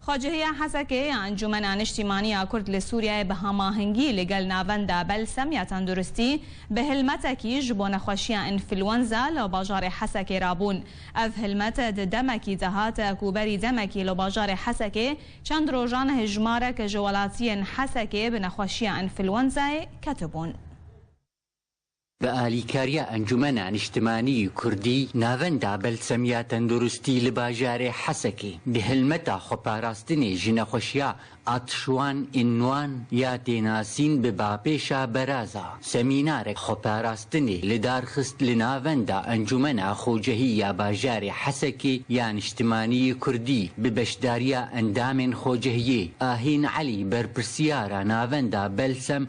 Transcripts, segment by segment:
Xwecihîya Hesekê ya Encûmena Niştîmanî ya Kurd li Sûriyeyê bi hamahengî li gel navenda Belsem ya Tenduristî bi hilmetekî ji bo nexweşiya înfluenza li bajarê Hesekê rabûn. Ev hilmet di demekî de hat ku berî demekî li bajarê Hesekê çend rojan hejmarek ji welatiyên Hesekê bi nexweşiya înfluenzayê ketibûn. Bi alîkariya Encûmena Nîştimanî yê Kurdî, Navenda Belsemîya Tenduristî li bajarê Hesekê di hilmeta xweparastinê ji nexweşiya Atşuan Înnuan ya tênasîn bi bapêşa Beraza semînarek xweparastinê li dar xist li navenda Encûmena Xocehî ya bajarê Hesekê ya Nîştimanî yê Kurdî bi beşdariya endamên Xocehiyê Ahîn Elî berpirsiyara Navenda Belsem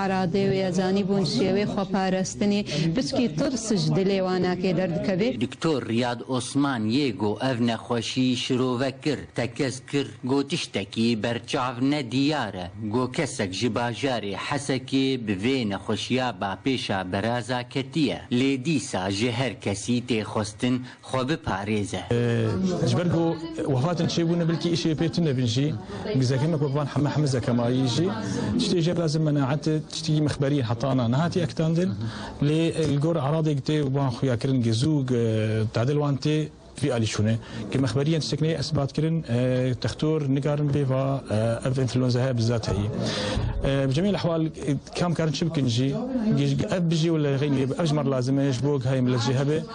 Eradê wê ya zanîbûn şêwê xweparestinê piçkî tirs ji dilê wan nakê derdikeve. Doktor Riyad Osman yê ku ev nexweşî şirove kir, tekez kir ku tiştekî berçav ne diyar e ku kesek ji bajarê Hesekê bi vê nexweşiya ba pêşa beraza ketiye lê dîsa ji her kesî tê xwestin xwe biparêze. Ji ber ku wefatên çêbûne bilkî îşê pê tune bin jî, gizekemek wek van Heme Hemize Kemalî jî tiştê jê re zimenaete tiştî mixberî ye heta na nehatiye ekitandin lê li gor eradê ki tê wan xuyakirin gezû tadil wan tê vî alî çûne ki mixberiyên tiştek neyê esbatkirin textor nigarin bê va ev enfluenza heye bi zat heyî bi cemî lehwal kam karin çi bikin jî ev bijî û li xeynî ev ji me re lazim e ji bo gihayê millet jê hebe.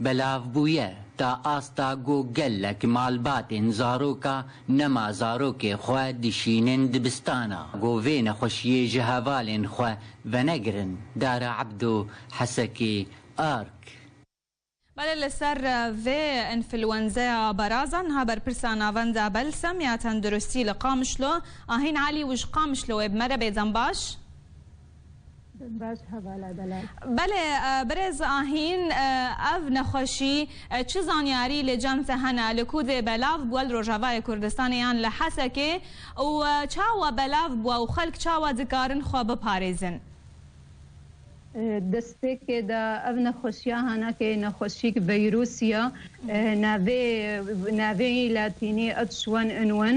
Belav bûye ta asta ku gelek malbatên zaroka nema zarokê xwe dişînin dibistana ku vê nexweşiyê ji hevalên xwe venegirin, Dara Ebdo, Hesekê, ark. Bale li ser vê înfluenzeya baraza niha berpirsa Navenda Belsam ya Tenduristî li Qamişlo Ahîn Elî û ji Qamişloê bi me re bê dembaş. Belê birêz Ahîn ev nexweşî çi zanyarî li cem te hene li ku dê belav bûe li Rojavayê Kurdistanê yan li Hesekê û çawa belav bûe û xelk çawa dikarin xwe biparêzin? Destpêkê de ev nexweşiya hene kê nexweşîk vîrûs ye navê navê yî latînî H1N1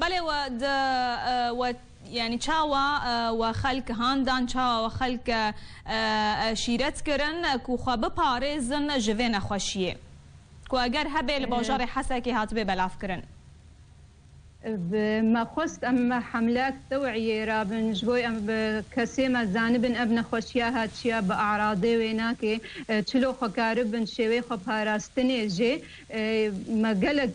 Belê we di we yanî çawa we xelk handan, çawa we xelk şîret kirin ku xwe biparêzin ji vê nexweşiyê ku eger hebê li bajarê Hesekê hatibê belavkirin? Bi me xwest em hemlek teweyê re bin ji bo em bi kesê me zanibin ev nexweşiya ha çiya bi eradê wê nake çilo xwe karibin şêwê xwe parastinê jê me gelek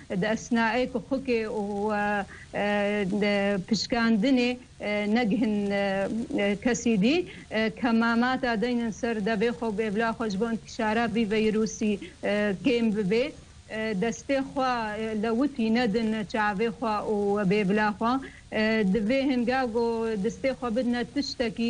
Di esnayê ku xwikê û pişkandinê negihîn kesî dî, kemamata deynin ser devê xwe û bê bila xwe ji bo întîşara vî vîrûsî kêm bibê. Destê xwe lewitî nedin çavê xwe û bê bila xwe. Di vê hinga ku distê xwe bidine tiştekî